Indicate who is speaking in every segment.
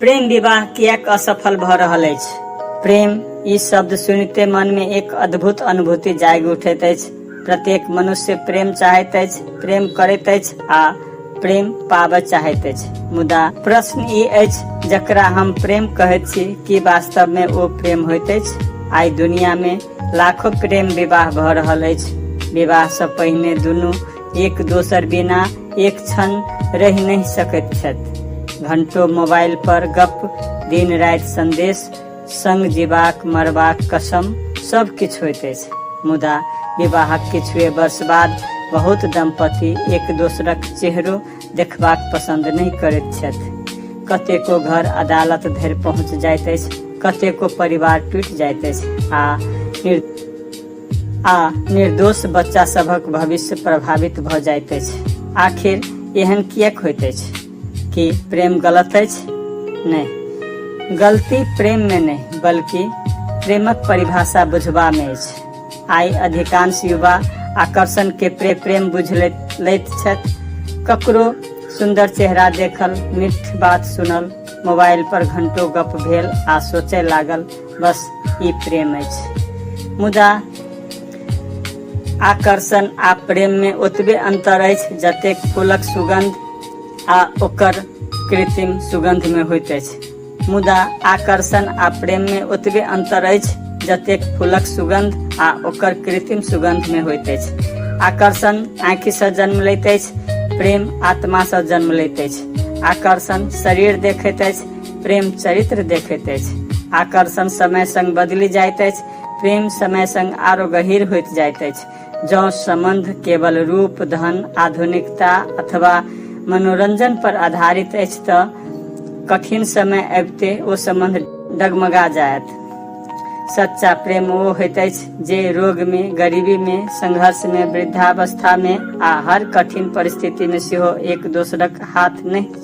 Speaker 1: प्रेम विवाह किएक असफल भऽ रहल अछि प्रेम ई शब्द सुनिते मन में एक अद्भुत अनुभूति जागि उठैत अछि प्रत्येक मनुष्य प्रेम चाहैत अछि प्रेम करैत अछि आ प्रेम पाबऽ चाहैत अछि मुदा प्रश्न ई अछि जकरा हम प्रेम कहैत छी कि वास्तव में ओ प्रेम होइत अछि आइ दुनिया में लाखों प्रेम विवाह भऽ रहल अछि विवाह से पहिने दुनू एक दोसर बिना एक क्षण रहि नहि सकैत छथि घंटो मोबाइल पर गप दिन राति संदेश संग जीवाक मरबाक कसम सब किछु होइत अछि मुदा विवाहक किछु वर्ष बाद बहुत दंपति एक दोसरक चेहरो देखबाक पसंद नहि करैत छथि कतेको घर अदालत धरि पहुँच जाइत अछि कतेको परिवार टूटि जाइत अछि आ आ निर्दोष बच्चा सभक भविष्य प्रभावित भऽ जाइत अछि आखिर एहन किएक होइत अछि कि प्रेम गलत अछि नहि गलती प्रेम में नहि बल्कि प्रेमक परिभाषा बुझबा में अछि आइ अधिकांश युवा आकर्षण के प्रे प्रेम बुझ लैत लैत छथि ककरो सुंदर चेहरा देखल मिठ बात सुनल मोबाइल पर घंटो गप भेल आ सोचय लागल बस ई प्रेम अछि मुदा आकर्षण आ प्रेम में ओतबे अंतर अछि जते फूलक सुगंध आ ओकर कृत्रिम सुगंध में होइत अछि मुदा आकर्षण आ प्रेम में ओतबे अंतर अछि जते फूलक सुगंध आ ओकर कृत्रिम सुगंध में होइत अछि आकर्षण आँखि से जन्म लेते प्रेम आत्मा से जन्म लेते आकर्षण शरीर देखते प्रेम चरित्र देखैत अछि आकर्षण समय संग बदलि जाइत अछि प्रेम समय संग आरो गहिर होइत जाइत अछि जँ सम्बन्ध केवल रूप धन आधुनिकता अथवा मनोरंजन पर आधारित अछि तऽ कठिन समय अबिते ओ सम्बन्ध डगमगा जायत सच्चा प्रेम ओ होइत अछि जे रोग मे गरीबी मे संघर्ष मे वृद्धावस्था मे आ हर कठिन परिस्थिति मे सेहो एक दोसरक हाथ नहि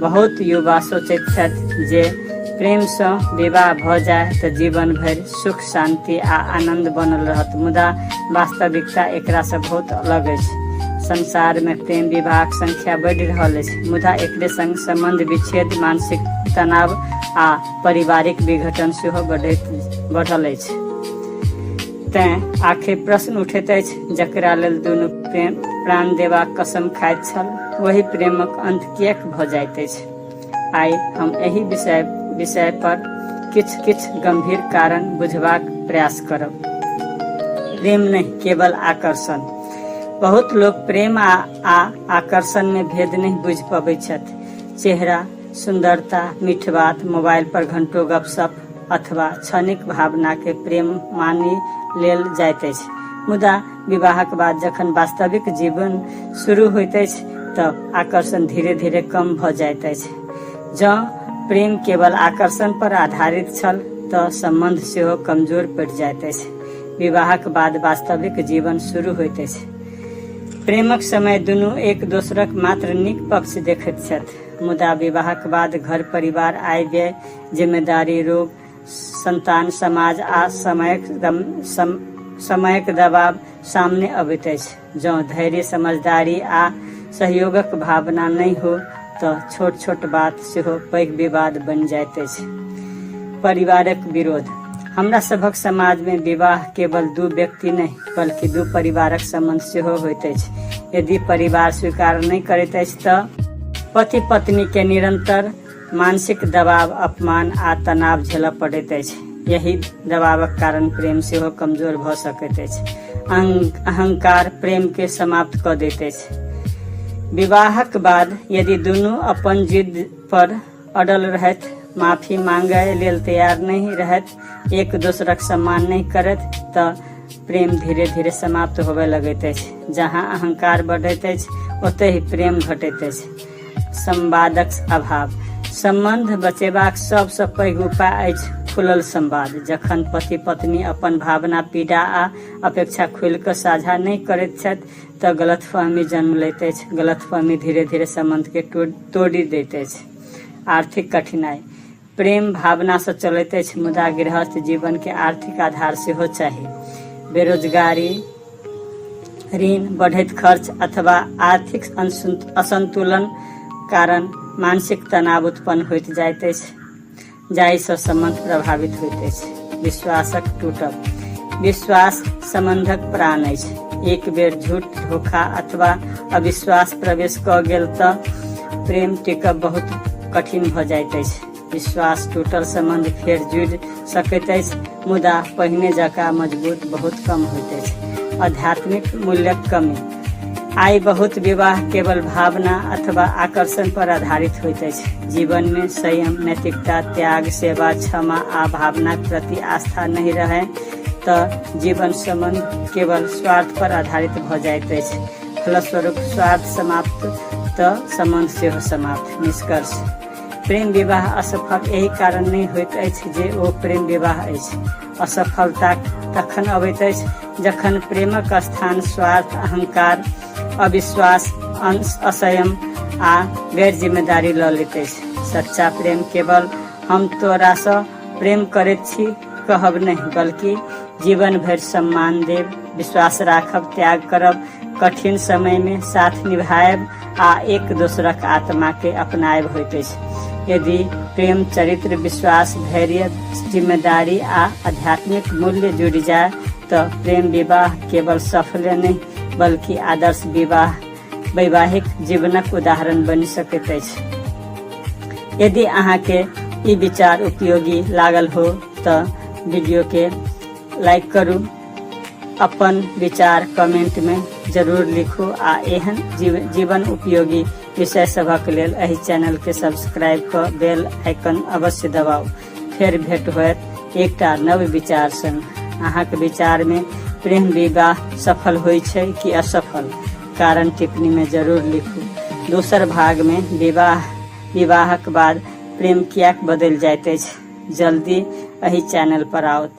Speaker 1: बहुत युवा सोचैत छथि जे प्रेमसँ विवाह भऽ जाय तऽ जीवन भरि सुख शांति आ आनंद बनल रहत मुदा वास्तविकता एकरासँ बहुत अलग अछि संसारमे प्रेम विवाहक संख्या बढ़ि रहल अछि मुदा एकरे संग संबंध विच्छेद मानसिक तनाव आ पारिवारिक विघटन सेहो बढ़ैत बढ़ल अछि तैं आखिर प्रश्न उठैत अछि जकरा लेल दुनू प्रेम प्राण देबाक कसम खाइत छल वही प्रेमक अंत किएक भऽ जाइत अछि आइ हम एहि विषय विषय पर किछु किछु गंभीर कारण बुझबाक प्रयास करब प्रेम नहि केवल आकर्षण बहुत लोग प्रेम आ, आ आकर्षण में भेद नहीं बुझ पबै छथि चेहरा सुंदरता मीठ बात मोबाइल पर घंटो गपशप अथवा क्षणिक भावना के प्रेम मानि लेल जाइत अछि मुदा विवाहक बाद जखन वास्तविक जीवन शुरू होइत अछि तऽ आकर्षण धीरे धीरे कम भऽ जाइत अछि जँ प्रेम केवल आकर्षण पर आधारित छल तऽ सम्बन्ध सेहो कमजोर पड़ि जाइत अछि विवाहक बाद वास्तविक जीवन शुरू होइत अछि प्रेमक समय दुनू एक दोसरक मात्र नीक पक्ष देखैत छथि मुदा विवाहक बाद घर परिवार आय व्यय जिम्मेदारी रोग संतान, समाज आ समयक दम, सम, समयक दबाव सामने अबैत अछि। जँ धैर्य, समझदारी आ सहयोगक भावना नहि हो तँ छोट-छोट बात सेहो पैघ विवाद बनि जाइत अछि। परिवारक विरोध, हमरा सभक समाजमे विवाह केवल दू व्यक्ति नहि, बल्कि दू परिवारक संबंध सेहो होइत अछि। यदि परिवार स्वीकार नहि करैत अछि तँ पति-पत्नीकेँ निरंतर मानसिक दबाव अपमान आ तनाव झेलऽ पड़ैत अछि यही दबावक कारण प्रेम सेहो कमजोर भऽ सकैत अछि अहंकार प्रेम के समाप्त कऽ दैत अछि विवाहक बाद यदि दुनू अपन जिद पर अडल रहत माफी मांगे लेल तैयार नहीं रहत एक दोसरक सम्मान नहीं करत तो प्रेम धीरे धीरे समाप्त होबे लगैत अछि जहाँ अहंकार बढ़ैत अछि ओतहि प्रेम घटैत अछि संवादक अभाव सम्बन्ध बचेबाक सबसँ पैघ उपाय अछि खुलल संवाद जखन पति पत्नी अपन भावना पीड़ा आ अपेक्षा खुलि कऽ साझा नहि करैत छथि तऽ गलतफहमी जन्म लैत अछि गलतफहमी धीरे धीरे सम्बन्धके तोड़ि दैत अछि आर्थिक कठिनाइ प्रेम भावनासँ चलैत अछि मुदा गृहस्थ जीवनके आर्थिक आधार सेहो चाही बेरोजगारी ऋण बढ़ैत खर्च अथवा आर्थिक असंतु- असंतुलन कारण मानसिक तनाव उत्पन्न होइत जाइत अछि जाहिसँ सम्बन्ध प्रभावित होइत अछि विश्वासक टूटब विश्वास सम्बन्धक प्राण अछि एक बेर झूठ धोखा अथवा अविश्वास प्रवेश कऽ गेल तऽ प्रेम टिकब बहुत कठिन भऽ जाइत अछि विश्वास टूटल सम्बन्ध फेर जुड़ि सकैत अछि मुदा पहिने जकाँ मजबूत बहुत कम होइत अछि आध्यात्मिक मूल्यक कमी आइ बहुत विवाह केवल भावना अथवा आकर्षण पर आधारित होइत अछि जीवन में संयम नैतिकता त्याग सेवा क्षमा आ भावना के प्रति आस्था नहीं रहे तऽ जीवन संबंध केवल स्वार्थ पर आधारित भऽ जाइत अछि फलस्वरूप स्वार्थ समाप्त तऽ संबंध सेहो समाप्त निष्कर्ष प्रेम विवाह असफल एहि कारण नहि होइत अछि जे ओ प्रेम विवाह अछि असफलता तखन अबैत अछि जखन प्रेमक स्थान स्वार्थ अहंकार अविश्वास असयम आ गैर जिम्मेदारी लऽ लैत अछि सच्चा प्रेम केवल हम तोरासँ प्रेम करैत छी कहब नहि बल्कि जीवन भरि सम्मान देब विश्वास राखब त्याग करब कठिन समयमे साथ निभायब आ एक दोसरक आत्मा के अपनायब होइत अछि यदि प्रेम चरित्र विश्वास धैर्य जिम्मेदारी आ आध्यात्मिक मूल्य जुड़ि जाय तऽ प्रेम विवाह केवल सफल नहि बल्कि आदर्श विवाह वैवाहिक जीवनक उदाहरण बनि सकैत अछि यदि अहाँके ई विचार उपयोगी लागल हो तऽ वीडियोके लाइक करू अपन विचार कमेंट में जरूर लिखू आ एहन जीव, जीवन उपयोगी विषय सभक लेल एहि चैनल के सब्सक्राइब क बेल आइकन अवश्य दबाउ फेर भेंट होयत एकटा नव विचार संग अहाँक विचार में प्रेम विवाह सफल होइ छै कि असफल कारण टिप्पणी में जरूर लिखू दोसर भाग में विवाह विवाहक बाद प्रेम किएक बदलि जाइत अछि जल्दी एहि चैनल पर आओत